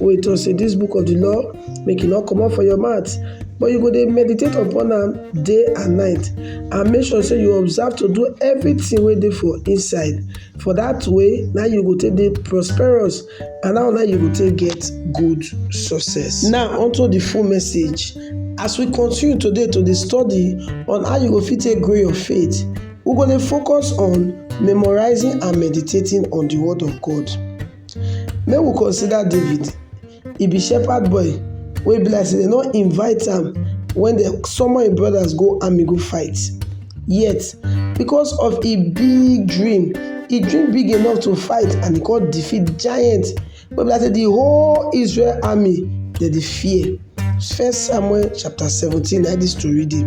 wey tok sey dis book of di law make e no comot for your mouth but you go dey meditate upon am day and night and make sure sey you observe to do everything wey dey for inside for dat way na you go take dey prosperous and how na you go take get good success. Now unto the full message as we continue today to dey study on how you go fit take grow your faith we go dey focus on memorizing and meditating on the word of God. Make we consider David, e be shepherd boy wey be like sey dem no invite am wen dem summon im brothers go army go fight yet because of im big dream, e dream big enough to fight and e come defeat giant wey be like sey de whole Israel army dem dey fear. First Samuel chapter seventeen na im dis tori dey.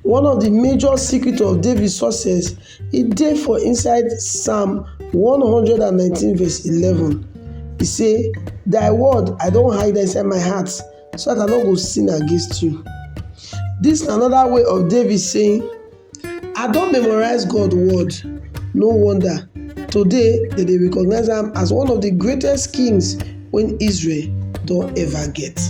One of di major secret of David success e dey for inside Psalm one hundred and nineteen verse eleven e say thy word I don hide inside my heart so dat I no go sin against you. Dis na another way of David saying I don memorize God word no wonder today dem dey recognize am as one of di greatest kings wen Israel don ever get.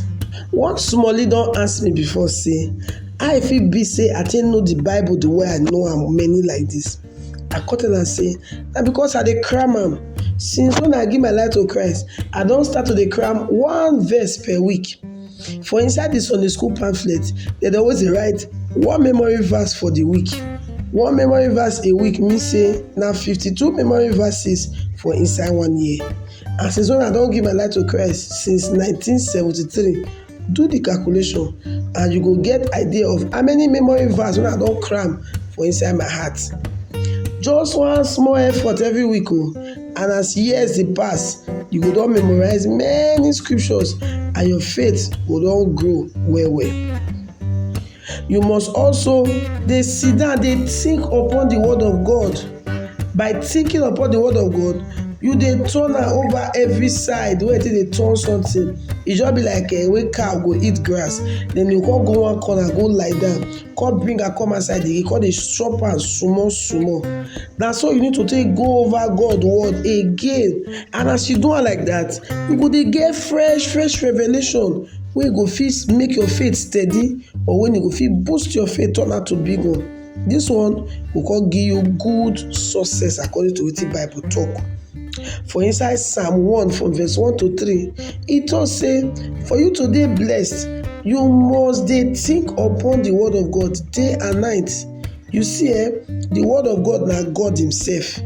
One smallie don ask me before sey how e fit be sey I take know de bible de way I know am many like dis, I come tell am sey na because I dey cram am since wen I give my life to Christ I don start to dey cram one verse per week. For inside de Sunday school pamphlet dem dey always dey write one memory verse for de week, one memory verse a week mean sey na fifty two memory verses for inside one year. And since when I don give my life to Christ since 1973, do the calculation and you go get idea of how many memory verse when I don cram for inside my heart. Just one small effort every week o oh, and as years dey pass, you go don memorize many scriptures and your faith go don grow well well. You must also dey sit down dey think upon the word of God. By thinking upon the word of God, you dey turn am over every side wey you take dey turn something. E just be like um wey cow go eat grass, then you come go one corner go lie down, come bring am come outside again, come dey chop am small small. Na so you need to take go over God word again. And as you do am like that, you go dey get fresh fresh revelation wey go fit make your faith steady or wen e go fit boost your faith turn am to big one dis one go come give you good success according to wetin bible talk for inside psalm one from verse one to three e talk say for you to dey blessed you must dey think upon the word of God day and night you see eh the word of God na God himself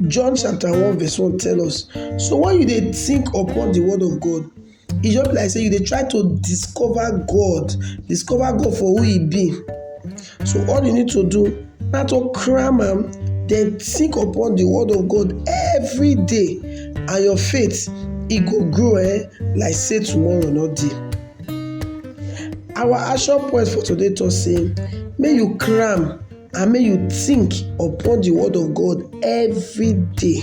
John chapter one verse one tell us so when you dey think upon the word of God E just be like sey you dey try to discover God, discover God for who im be. So all you need to do na to cram am den think upon de word of God everyday and your faith e go grow um like sey tomorrow no dey. Our action point for today talk sey make you cram and make you think upon de word of God everyday.